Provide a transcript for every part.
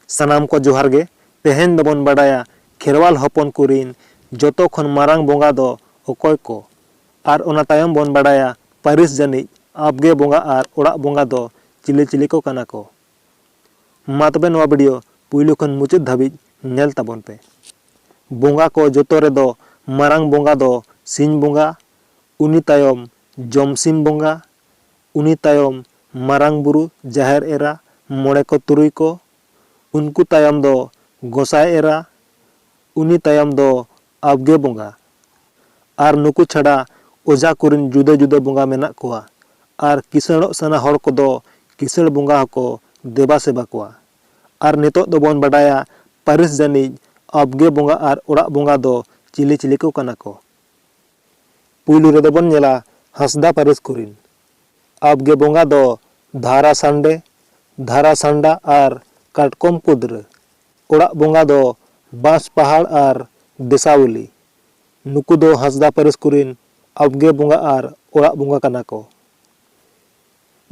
ᱥᱟᱱᱟᱢ ᱠᱚ ᱡᱚᱦᱟᱨ ᱜᱮ ᱛᱮᱦᱮᱧ ᱫᱚᱵᱚᱱ ᱵᱟᱰᱟᱭᱟ ᱠᱷᱮᱨᱣᱟᱞ ᱦᱚᱯᱚᱱ ᱠᱚᱨᱤᱱ ᱡᱚᱛᱚ ᱠᱷᱚᱱ ᱢᱟᱨᱟᱝ ᱵᱚᱸᱜᱟ ᱫᱚ ᱚᱠᱚᱭ ᱠᱚ ᱟᱨ ᱚᱱᱟ ᱛᱟᱭᱚᱢ ᱵᱚᱱ ᱵᱟᱰᱟᱭᱟ ᱯᱟᱹᱨᱤᱥ ᱡᱟᱹᱱᱤᱡ ᱟᱵᱜᱮ ᱵᱚᱸᱜᱟ ᱟᱨ ᱚᱲᱟᱜ ᱵᱚᱸᱜᱟ ᱫᱚ ᱪᱤᱞᱤ ᱪᱤᱞᱤ ᱠᱚ ᱠᱟᱱᱟ ᱠᱚ ᱢᱟ ᱛᱚᱵᱮ ᱱᱚᱣᱟ ᱵᱷᱤᱰᱤᱭᱳ ᱯᱩᱭᱞᱩ ᱠᱷᱚᱱ ᱢᱩᱪᱟᱹᱫ ᱫᱷᱟᱹᱵᱤᱡ ᱧᱮᱞ ᱛᱟᱵᱚᱱ ᱯᱮ ᱵᱚᱸᱜᱟ ᱠᱚ ᱡᱚᱛᱚ ᱨᱮᱫᱚ ᱢᱟᱨᱟᱝ ᱵᱚᱸᱜᱟ ᱫᱚ ᱥᱤᱧ ᱵᱚᱸᱜᱟ ᱩᱱᱤ ᱛᱟᱭᱚᱢ ᱡᱚᱢᱥᱤᱢ ᱵᱚᱸᱜᱟ, ᱩᱱᱤ ᱛᱟᱭᱚᱢ ᱢᱟᱨᱟᱝ ᱵᱩᱨᱩ ᱡᱟᱦᱮᱨ ᱮᱨᱟ ᱢᱚᱬᱮ ᱠᱚ ᱛᱩᱨᱩᱭ ᱠᱚ, ᱩᱱᱠᱩ ᱛᱟᱭᱚᱢ ᱫᱚ ᱜᱚᱸᱥᱟᱭ ᱮᱨᱟ, ᱩᱱᱤ ᱛᱟᱭᱚᱢ ᱫᱚ ᱟᱵᱽᱜᱮ ᱵᱚᱸᱜᱟ᱾ ᱟᱨ ᱱᱩᱠᱩ ᱪᱷᱟᱰᱟ ᱚᱡᱷᱟ ᱠᱚᱨᱤᱱ ᱡᱩᱫᱟᱹ ᱡᱩᱫᱟᱹ ᱵᱚᱸᱜᱟ ᱢᱮᱱᱟᱜ ᱠᱚᱣᱟ ᱟᱨ ᱠᱤᱥᱟᱹᱬᱚᱜ ᱥᱟᱱᱟ ᱦᱚᱲ ᱠᱚᱫᱚ ᱠᱤᱥᱟᱹᱬ ᱵᱚᱸᱜᱟ ᱦᱚᱸᱠᱚ ᱫᱮᱵᱟ ᱥᱮᱵᱟ ᱠᱚᱣᱟ᱾ ᱟᱨ ᱱᱤᱛᱚᱜ ᱫᱚ ᱵᱚᱱ ᱵᱟᱰᱟᱭᱟ ᱯᱟᱹᱨᱤᱥ ᱡᱟᱹᱱᱤᱡ ᱟᱵᱽᱜᱮ ᱵᱚᱸᱜᱟ ᱟᱨ ᱚᱲᱟᱜ ᱵᱚᱸᱜᱟ ᱫᱚ ᱪᱤᱞᱤ ᱪᱤᱞᱤ ᱠᱚ ᱠᱟᱱᱟ ᱠᱚ᱾ ᱯᱩᱭᱞᱩ ᱨᱮᱫᱚ ᱵᱚᱱ ᱧᱮᱞᱟ ᱦᱟᱸᱥᱫᱟ ᱯᱟᱹᱨᱤᱥ ᱠᱚᱨᱤᱱ ᱟᱵᱽᱜᱮ ᱵᱚᱸᱜᱟ ᱫᱚ ᱫᱷᱟᱨᱟ ᱥᱟᱱᱰᱮ, ᱫᱷᱟᱨᱟ ᱥᱟᱱᱰᱟ ᱟᱨ ᱠᱟᱴᱠᱚᱢ ᱠᱩᱫᱽᱨᱟᱹ᱾ ᱚᱲᱟᱜ ᱵᱚᱸᱜᱟ ᱫᱚ ᱵᱟᱸᱥ ᱯᱟᱦᱟᱲ ᱟᱨ ᱫᱮᱥᱟᱣᱞᱤ᱾ ᱱᱩᱠᱩ ᱫᱚ ᱦᱟᱸᱥᱫᱟ ᱯᱟᱹᱨᱤᱥ ᱠᱚᱨᱤᱱ ᱟᱵᱽᱜᱮ ᱵᱚᱸᱜᱟ ᱟᱨ ᱚᱲᱟᱜ ᱵᱚᱸᱜᱟ ᱠᱟᱱᱟ ᱠᱚ᱾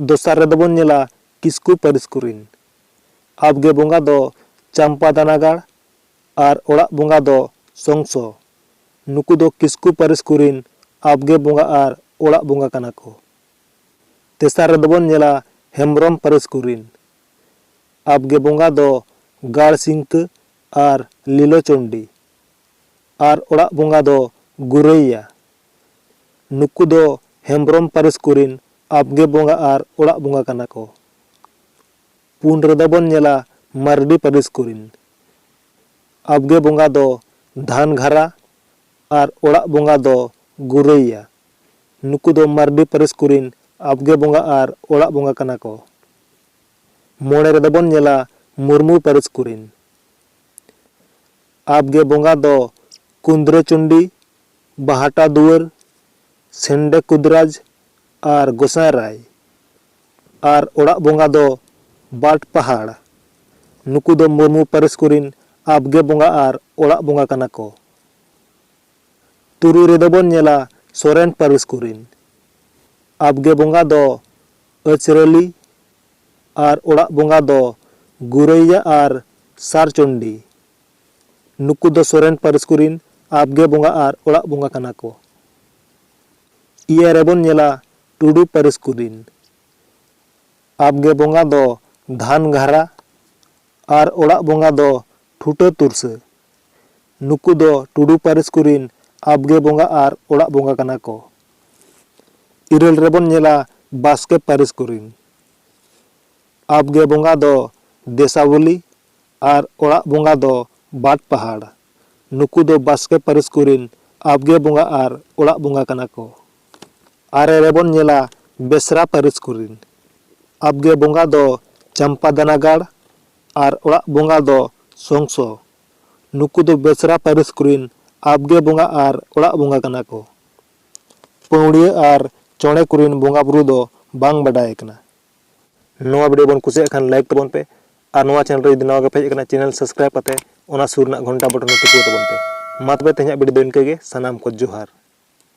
ᱫᱚᱥᱟᱨ ᱨᱮᱫᱚ ᱵᱚᱱ ᱧᱮᱞᱟ ᱠᱤᱥᱠᱩ ᱯᱟᱹᱨᱤᱥ ᱠᱚᱨᱤᱱ ᱟᱵᱽᱜᱮ ᱵᱚᱸᱜᱟ ᱫᱚ ᱪᱟᱢᱯᱟ ᱫᱟᱱᱟᱜᱟᱲ ᱟᱨ ᱚᱲᱟᱜ ᱵᱚᱸᱜᱟ ᱫᱚ ᱥᱚᱝᱥᱚ᱾ ᱱᱩᱠᱩ ᱫᱚ ᱠᱤᱥᱠᱩ ᱯᱟᱹᱨᱤᱥ ᱠᱚᱨᱤᱱ ᱟᱵᱽᱜᱮ ᱵᱚᱸᱜᱟ ᱟᱨ ᱚᱲᱟᱜ ᱵᱚᱸᱜᱟ ᱠᱟᱱᱟ ᱠᱚ᱾ ᱛᱮᱥᱟᱨ ᱨᱮᱫᱚ ᱵᱚᱱ ᱧᱮᱞᱟ ᱦᱮᱢᱵᱽᱨᱚᱢ ᱯᱟᱹᱨᱤᱥ ᱠᱚᱨᱤᱱ ᱟᱵᱽᱜᱮ ᱵᱚᱸᱜᱟ ᱫᱚ ᱜᱟᱲ ᱥᱤᱝᱛᱟᱹ ᱟᱨ ᱞᱤᱞᱚ ᱪᱚᱱᱰᱤ ᱟᱨ ᱚᱲᱟᱜ ᱵᱚᱸᱜᱟ ᱫᱚ ᱜᱩᱨᱟᱹᱭᱭᱟ᱾ ᱱᱩᱠᱩ ᱫᱚ ᱦᱮᱢᱵᱽᱨᱚᱢ ᱯᱟᱹᱨᱤᱥ ᱠᱚᱨᱤᱱ ᱟᱵᱽᱜᱮ ᱵᱚᱸᱜᱟ ᱟᱨ ᱚᱲᱟᱜ ᱵᱚᱸᱜᱟ ᱠᱟᱱᱟ ᱠᱚ᱾ ᱯᱩᱱ ᱨᱮᱫᱚ ᱵᱚᱱ ᱧᱮᱞᱟ ᱢᱟᱨᱰᱤ ᱯᱟᱹᱨᱤᱥ ᱠᱚᱨᱤᱱ᱾ ᱟᱵᱽᱜᱮ ᱵᱚᱸᱜᱟ ᱫᱚ ᱫᱷᱟᱱᱜᱷᱟᱨᱟ ᱟᱨ ᱚᱲᱟᱜ ᱵᱚᱸᱜᱟ ᱫᱚ ᱜᱩᱨᱟᱹᱭᱭᱟ᱾ ᱱᱩᱠᱩ ᱫᱚ ᱢᱟᱨᱰᱤ ᱯᱟᱹᱨᱤᱥ ᱠᱚᱨᱤᱱ ᱟᱵᱽᱜᱮ ᱵᱚᱸᱜᱟ ᱟᱨ ᱚᱲᱟᱜ ᱵᱚᱸᱜᱟ ᱠᱟᱱᱟ ᱠᱚ᱾ ᱢᱚᱬᱮ ᱨᱮᱫᱚ ᱵᱚᱱ ᱧᱮᱞᱟ ᱢᱩᱨᱢᱩ ᱯᱟᱹᱨᱤᱥ ᱠᱚᱨᱤᱱ᱾ ᱟᱵᱽᱜᱮ ᱵᱚᱸᱜᱟ ᱫᱚ ᱠᱩᱸᱫᱽᱨᱟᱹ ᱪᱚᱱᱰᱤ, ᱵᱟᱦᱟᱴᱟ ᱫᱩᱣᱟᱹᱨ, ᱥᱮᱱᱰᱮ ᱠᱩᱫᱽᱨᱟᱡᱽ ᱟᱨ ᱜᱚᱸᱥᱟᱭ ᱨᱟᱭ᱾ ᱟᱨ ᱚᱲᱟᱜ ᱵᱚᱸᱜᱟ ᱫᱚ ᱵᱟᱨᱰ ᱯᱟᱦᱟᱲ᱾ ᱱᱩᱠᱩ ᱫᱚ ᱢᱩᱨᱢᱩ ᱯᱟᱹᱨᱤᱥ ᱠᱚᱨᱤᱱ ᱟᱵᱽᱜᱮ ᱵᱚᱸᱜᱟ ᱟᱨ ᱚᱲᱟᱜ ᱵᱚᱸᱜᱟ ᱠᱟᱱᱟ ᱠᱚ᱾ ᱛᱩᱨᱩᱭ ᱨᱮᱫᱚ ᱵᱚᱱ ᱧᱮᱞᱟ ᱥᱚᱨᱮᱱ ᱯᱟᱹᱨᱤᱥ ᱠᱚᱨᱤᱱ ᱟᱵᱽᱜᱮ ᱵᱚᱸᱜᱟ ᱫᱚ ᱟᱹᱪᱨᱟᱹᱞᱤ ᱟᱨ ᱚᱲᱟᱜ ᱵᱚᱸᱜᱟ ᱫᱚ ᱜᱩᱨᱟᱹᱭᱭᱟ ᱟᱨ ᱥᱟᱨ ᱪᱚᱱᱰᱤ᱾ ᱱᱩᱠᱩ ᱫᱚ ᱥᱚᱨᱮᱱ ᱯᱟᱹᱨᱤᱥ ᱠᱚᱨᱤᱱ ᱟᱵᱽᱜᱮ ᱵᱚᱸᱜᱟ ᱟᱨ ᱚᱲᱟᱜ ᱵᱚᱸᱜᱟ ᱠᱟᱱᱟ ᱠᱚ᱾ ᱤᱭᱟᱹ ᱨᱮ ᱵᱚᱱ ᱧᱮᱞᱟ ᱴᱩᱰᱩ ᱯᱟᱹᱨᱤᱥ ᱠᱚ ᱨᱤᱱ ᱟᱵᱽᱜᱮ ᱵᱚᱸᱜᱟ ᱫᱚ ᱫᱷᱟᱱ ᱜᱷᱟᱨᱟ ᱟᱨ ᱚᱲᱟᱜ ᱵᱚᱸᱜᱟ ᱫᱚ ᱴᱷᱩᱴᱟᱹ ᱛᱩᱨᱥᱟᱹ᱾ ᱱᱩᱠᱩ ᱫᱚ ᱴᱩᱰᱩ ᱯᱟᱹᱨᱤᱥ ᱠᱚ ᱨᱤᱱ ᱟᱵᱽᱜᱮ ᱵᱚᱸᱜᱟ ᱟᱨ ᱚᱲᱟᱜ ᱵᱚᱸᱜᱟ ᱠᱟᱱᱟ ᱠᱚ᱾ ᱤᱨᱟᱹᱞ ᱨᱮ ᱵᱚᱱ ᱧᱮᱞᱟ ᱵᱟᱥᱠᱮ ᱯᱟᱹᱨᱤᱥ ᱠᱚ ᱨᱤᱱ ᱟᱵᱽᱜᱮ ᱵᱚᱸᱜᱟ ᱫᱚ ᱫᱮᱥᱟᱣᱞᱤ ᱟᱨ ᱚᱲᱟᱜ ᱵᱚᱸᱜᱟ ᱫᱚ ᱵᱟᱴ ᱯᱟᱦᱟᱲ᱾ ᱱᱩᱠᱩ ᱫᱚ ᱵᱟᱥᱠᱮ ᱯᱟᱹᱨᱤᱥ ᱠᱚ ᱨᱤᱱ ᱟᱵᱽᱜᱮ ᱵᱚᱸᱜᱟ ᱟᱨ ᱚᱲᱟᱜ ᱵᱚᱸᱜᱟ ᱠᱟᱱᱟ ᱠᱚ᱾ ᱟᱨᱮ ᱨᱮ ᱵᱚᱱ ᱧᱮᱞᱟ ᱵᱮᱥᱨᱟ ᱯᱟᱹᱨᱤᱥ ᱠᱚ ᱨᱤᱱ ᱟᱵᱽᱜᱮ ᱵᱚᱸᱜᱟ ᱫᱚ ᱪᱟᱢᱯᱟᱫᱟᱱᱟᱜᱟᱲ ᱟᱨ ᱚᱲᱟᱜ ᱵᱚᱸᱜᱟ ᱫᱚ ᱥᱚᱝᱥᱚ᱾ ᱱᱩᱠᱩ ᱫᱚ ᱵᱮᱥᱨᱟ ᱯᱟᱹᱨᱤᱥ ᱠᱚ ᱨᱤᱱ ᱟᱵᱽᱜᱮ ᱵᱚᱸᱜᱟ ᱟᱨ ᱚᱲᱟᱜ ᱵᱚᱸᱜᱟ ᱠᱟᱱᱟ ᱠᱚ᱾ ᱯᱟᱹᱣᱲᱤᱭᱟᱹ ᱟᱨ ᱪᱚᱬᱮ ᱠᱚ ᱨᱤᱱ ᱵᱚᱸᱜᱟ ᱵᱩᱨᱩ ᱫᱚ ᱵᱟᱝ ᱵᱟᱰᱟᱭ ᱟᱠᱟᱱᱟ᱾ ᱱᱚᱣᱟ ᱵᱷᱤᱰᱤᱭᱳ ᱵᱚᱱ ᱠᱩᱥᱤᱭᱟᱜ ᱠᱷᱟᱱ ᱞᱟᱭᱤᱠ ᱛᱟᱵᱚᱱ ᱯᱮ ᱟᱨ ᱱᱚᱣᱟ ᱪᱮᱱᱮᱞ ᱨᱮ ᱡᱩᱫᱤ ᱱᱟᱣᱟ ᱜᱮᱯᱮ ᱦᱮᱡ ᱟᱠᱟᱱᱟ ᱪᱮᱱᱮᱞ ᱥᱟᱵᱥᱠᱨᱟᱭᱤᱵ ᱠᱟᱛᱮ ᱚᱱᱟ ᱥᱩᱨ ᱨᱮᱱᱟᱜ ᱜᱷᱚᱱᱴᱟ ᱵᱚᱴᱚᱱ ᱦᱚᱸ ᱴᱤᱯᱟᱹᱣ ᱛᱟᱵᱚᱱ ᱯᱮ ᱢᱟ ᱛᱚᱵᱮ ᱛᱮᱦᱮᱧᱟᱜ ᱵᱷᱤᱰᱤᱭᱳ ᱫᱚ ᱤᱱᱠᱟᱹ ᱜᱮ ᱥᱟᱱᱟᱢ ᱠᱚ ᱡᱚᱦᱟᱨ